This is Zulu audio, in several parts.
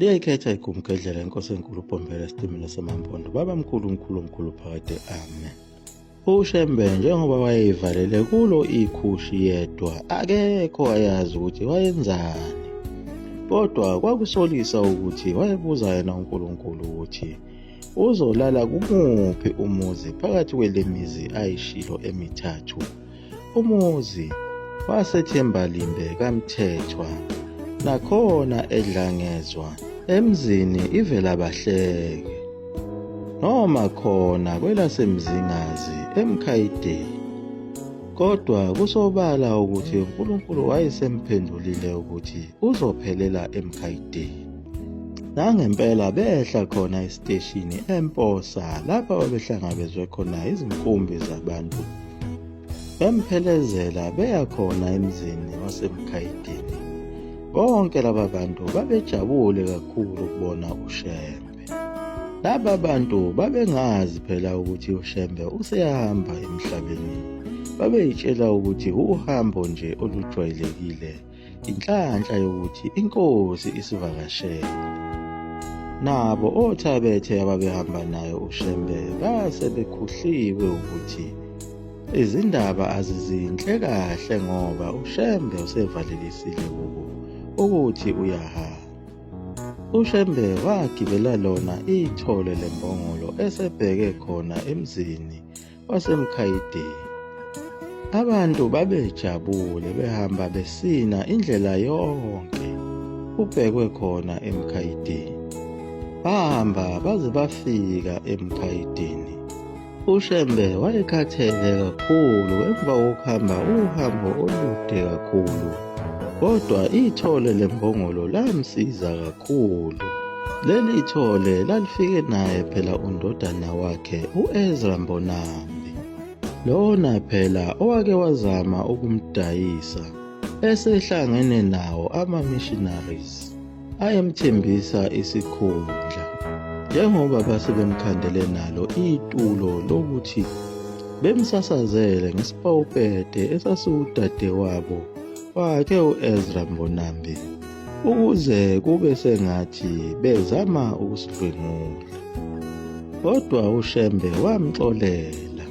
liyayikhetha igumgedlela inkosi enkulu ubhombela esitimela samampondo baba mkhulu mkhulu mkhulu phakade amen ushembe njengoba wayeyivalele kulo ikhushi yedwa akekho ayazi ukuthi wayenzani kodwa kwakusolisa ukuthi wayebuza yena unkulunkulu ukuthi uzolala kumuphi umuzi phakathi kwelemizi ayishilo emithathu Umuzi wasethembalimbe kamthethwa nakhona edlangezwa emzini ivela bahleke noma khona kwelasemzingazi emkhayideni kodwa kusobala ukuthi uNkulunkulu wayesemphendulile ukuthi uzophelela emkhayideni nangempela behla khona esiteshini emposa lapho babehlangabezwe khona izinkumbi zabantu Bemphelezela beya khona emzini waseMkhayidini. Bonke laba bantu babejabule kakhulu ukubona uShembe. Laba bantu babengazi phela ukuthi uShembe useyahamba emhlabeni. Babeyitshela ukuthi uhambo nje olujwayelekile inhlanhla yokuthi inkosi isivakashele nabo othabethe ababehamba nayo ushembe base bekhuhliwe ukuthi izindaba azizinhle kahle ngoba ushembe usevalelisile kubo ukuthi uyahamba ushembe wagibela lona ithole lembongolo esebheke khona emzini wasemkhayideni. Abantu babejabule behamba besina indlela yonke kubhekwe khona emkhayideni. Bahamba baze bafika emkhayideni. UShembe wayekhathele kakhulu emva kokuhamba uhambo olude kakhulu. Kodwa ithole lembongolo lamsiza kakhulu. Leli thole lalifike naye phela undodana wakhe u-Ezra Mbonambi. Lona phela owake wazama ukumdayisa esehlangene nawo ama-missionaries. ayemthembisa isikhundla njengoba base bemkhandele nalo itulo lokuthi bemsasazele ngesipawupede esasiwudadewabo wakhe u-ezra mbonambi ukuze kube sengathi bezama ukusidlwengula kodwa ushembe wamxolela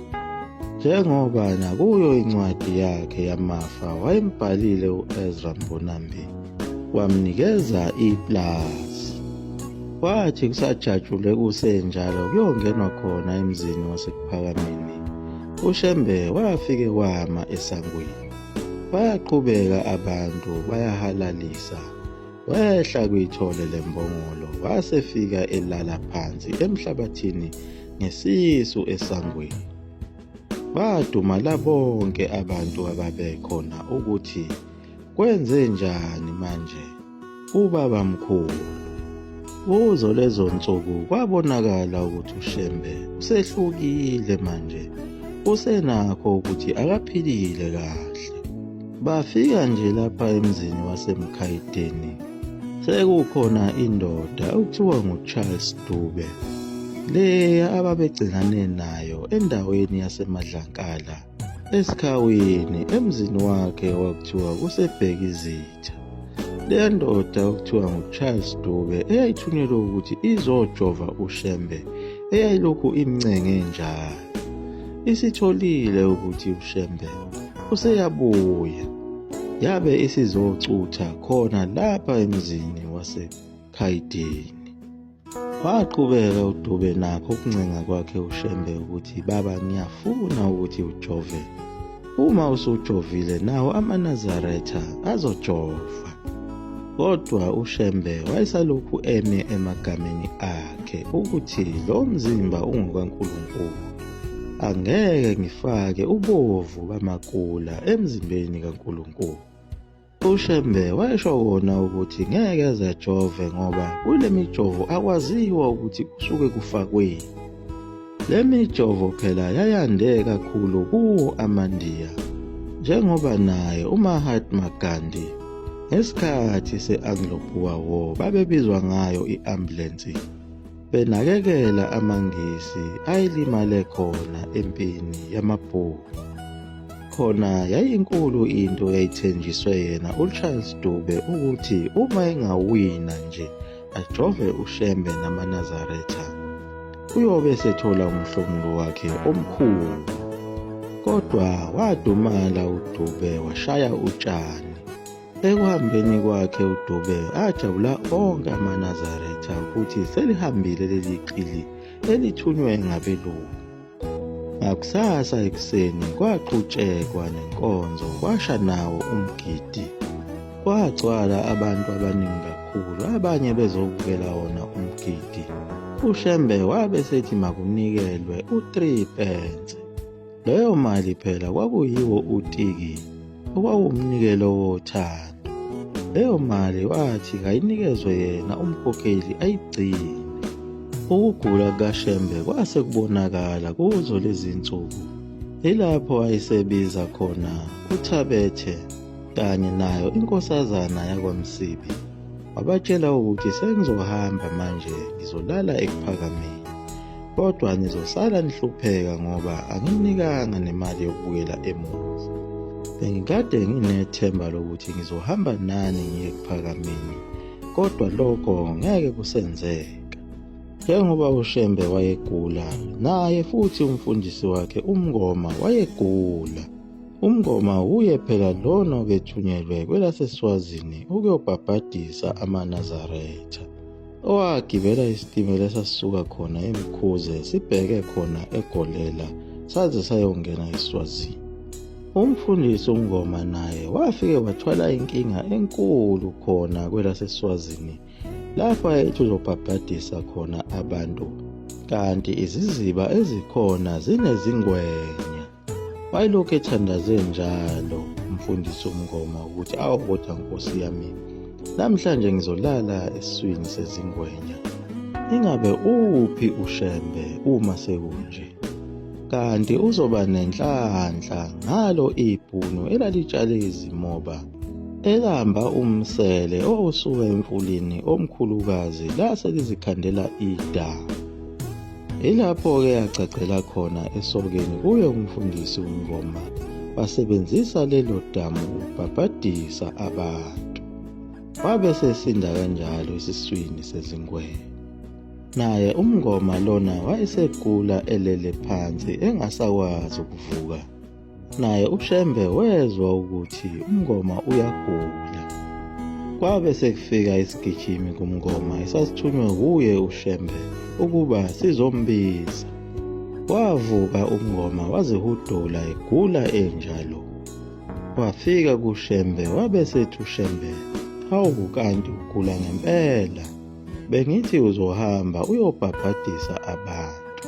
njengoba nakuyo incwadi yakhe yamafa wayembhalile u-ezra mbonambi wamnikeza iplazi kwathi kusajatshule kusenjalo kuyongenwa khona emzini wasekuphakameni ushembe wafike wama esangweni bayaqhubeka abantu bayahalalisa wehla kuyithole lembongolo wasefika elala phansi emhlabathini ngesisu esangweni badumala bonke abantu ababekhona ukuthi Kwenze njani manje? Ubaba mkhulu. Kuzo lezo nsuku kwabonakala ukuthi uShembe usehlukile manje. Usenakho ukuthi akaphilile kahle. Bafika nje lapha emzini waseMkhayideni. Sekukhona indoda okuthiwa nguCharles Dube. Leya ababegcinane nayo endaweni yaseMadlankala. Esikhawini emzini wakhe wakuthiwa kusebheka izitha. Leya ndoda okuthiwa nguCharles Dube eyayithunyelwe ukuthi izojova uShembe eyayilokhu imncenge njalo. Isitholile ukuthi uShembe useyabuya yabe isizocutha khona lapha emzini waseKhayidini. Waqhubeka uDube nakho ukuncenga kwakhe uShembe ukuthi baba ngiyafuna ukuthi ujove. Uma usujovile nawo amaNazaretha azojova. Kodwa uShembe wayesalokhu eme emagameni akhe ukuthi lo mzimba ungokaNkulunkulu. Angeke ngifake ubovu bamakula emzimbeni kaNkulunkulu. UShembe wayesho kona ukuthi ngeke ezejove ngoba kule mijovo akwaziwa ukuthi kusuke kufakweni. Le mijovo phela yayande kakhulu kuwo amaNdiya njengoba naye uMahatma Gandhi ngesikhathi se-Anglo-Boer War babebizwa ngayo i-ambulensi. benakekela amaNgisi ayelimale khona empini yamabhuku. Khona yayinkulu into eyayithenjiswe yena uCharles Dube ukuthi uma engawina nje ajove uShembe namaNazaretha uyobe esethola umhlomulo wakhe omkhulu. Kodwa wadumala uDube washaya utshani. Ekuhambeni kwakhe uDube ajabula onke amaNazaretha ukuthi selihambile leli qili elithunywe ngabelungu. Ngakusasa ekuseni kwaqhutshekwa nenkonzo kwasha nawo umgidi. Kwagcwala abantu abaningi kakhulu abanye bezobukela wona umgidi. UShembe wabe sethi makunikelwe u-3 pence. Leyo mali phela kwakuyiwo utiki okwawumnikelo wothando. Leyo mali wathi kayinikezwe yena umkhokheli ayigcine. Ukugula kukaShembe kwase kubonakala kuzo lezi nsuku. Ilapho ayesebiza khona uThabethe kanye nayo inkosazana yakwaMsibi. Wabatshela ukuthi sengizohamba manje ngizolala ekuphakameni. kodwa nizosala nihlupheka ngoba anginikanga nemali yokubuyela emuva bengikade nginethemba lokuthi ngizohamba nani ngiye kuphakameni kodwa lokho ngeke kusenzeke njengoba ushembe wayegula naye futhi umfundisi wakhe umngoma wayegula Umngoma wuye phela lona obethunyelwe kwelaseSwazini ukuyobhabhadisa amaNazaretha. owagibela isitimela esasisuka khona emkhuze sibheke khona egolela saze sayongena eswazini umfundisi umngoma naye wafike wathwala inkinga enkulu khona kwelaseswazini lapho ayethi uzobhabhadisa khona abantu kanti iziziba ezikhona zinezingwenya Wayelokhu ethandaze njalo umfundisi uMngoma ukuthi awu kodwa nkosi yami namhlanje ngizolala esiswini sezingwenya. Ingabe uphi uShembe uma sekunje? Kanti uzoba nenhlanhla ngalo ibhunu elalitshale izimoba elamba umsele owusuka emfulini omkhulukazi lase lizikhandela idanga. Ilapho-ke yagcagcela khona esokeni kuye umfundisi uNgoma basebenzisa lelo damu ukubhabhadisa abantu. Wabe sesinda kanjalo esiswini sezingwenya. Naye uMngoma lona wayesegula elele phansi engasakwazi ukuvuka. Naye uShembe wezwa ukuthi uMngoma uyagula. Kwabe sekufika isigijimi kuMngoma esasithunywe wuye uShembe ukuba sizombiza. Wavuka uMngoma wazihudula egula enjalo. Wafika kuShembe wabe sethi uShembe, hawu kanti ugula ngempela. bengithi uzohamba uyobhabhadisa abantu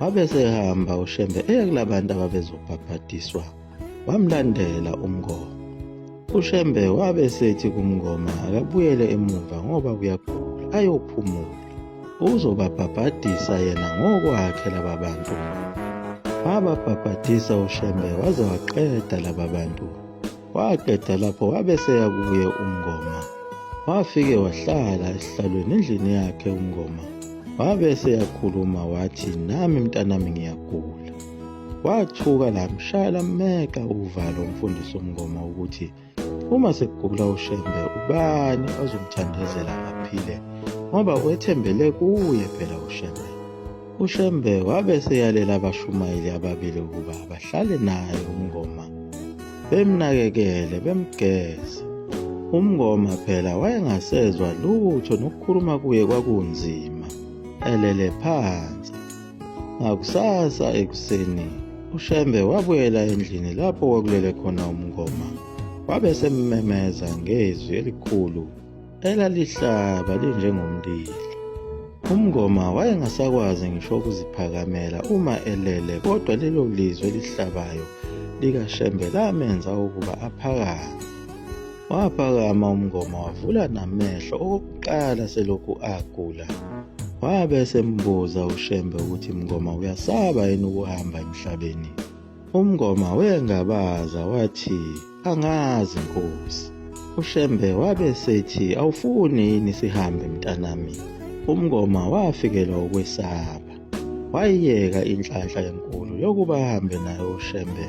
wabe sehamba ushembe eya kulabantu ababezobhabhadiswa wamlandela umngoma ushembe wabe sethi kumngoma akabuyele emuva ngoba kuyagula ayophumula uzobabhabhadisa yena ngokwakhe laba bantu wababhabhadisa ushembe waze waqeda laba bantu waqeda lapho wabe seya kuye umngoma wafike wahlala esihlalweni endlini yakhe umngoma wabe seyakhuluma wathi nami mntanami ngiyagula wathuka lamshaya lammeka uvalo umfundisi umngoma ukuthi uma sekugula ushembe ubani ozomthandazela aphile ngoba wethembele kuye phela ushembe UShembe wabe seyalela abashumayeli ababili ukuba bahlale naye umngoma bemnakekele bemgeze. Umngoma phela wayengasezwa lutho nokukhuluma kuye kwakunzima elele phansi. Ngakusasa ekuseni uShembe wabuyela endlini lapho kwakulele khona umngoma wabe semmemeza ngezwi elikhulu elalihlaba linjengomlilo. UMngoma wayengasakwazi ngisho ukuziphakamela uma elele kodwa lelo lizwi elihlabayo likaShembe lamenza ukuba aphakame. Waphakama uMngoma wavula namehlo okokuqala selokhu agula. Wabe esembuza uShembe ukuthi Mngoma uyasaba yini ukuhamba emhlabeni. UMngoma wengabaza wathi Angazi Nkosi. UShembe wabe sethi awufuni yini sihambe mntanami. UMngoma wafikelwa ukwesaba. Wayiyeka inhlanhla enkulu yokuba ahambe nayo uShembe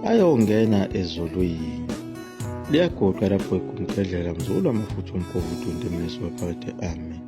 ayongena ezulwini. Liyagoqa lapho ekumphedlela mzulu amafutha umgovu udunde mlisi wephakade amen.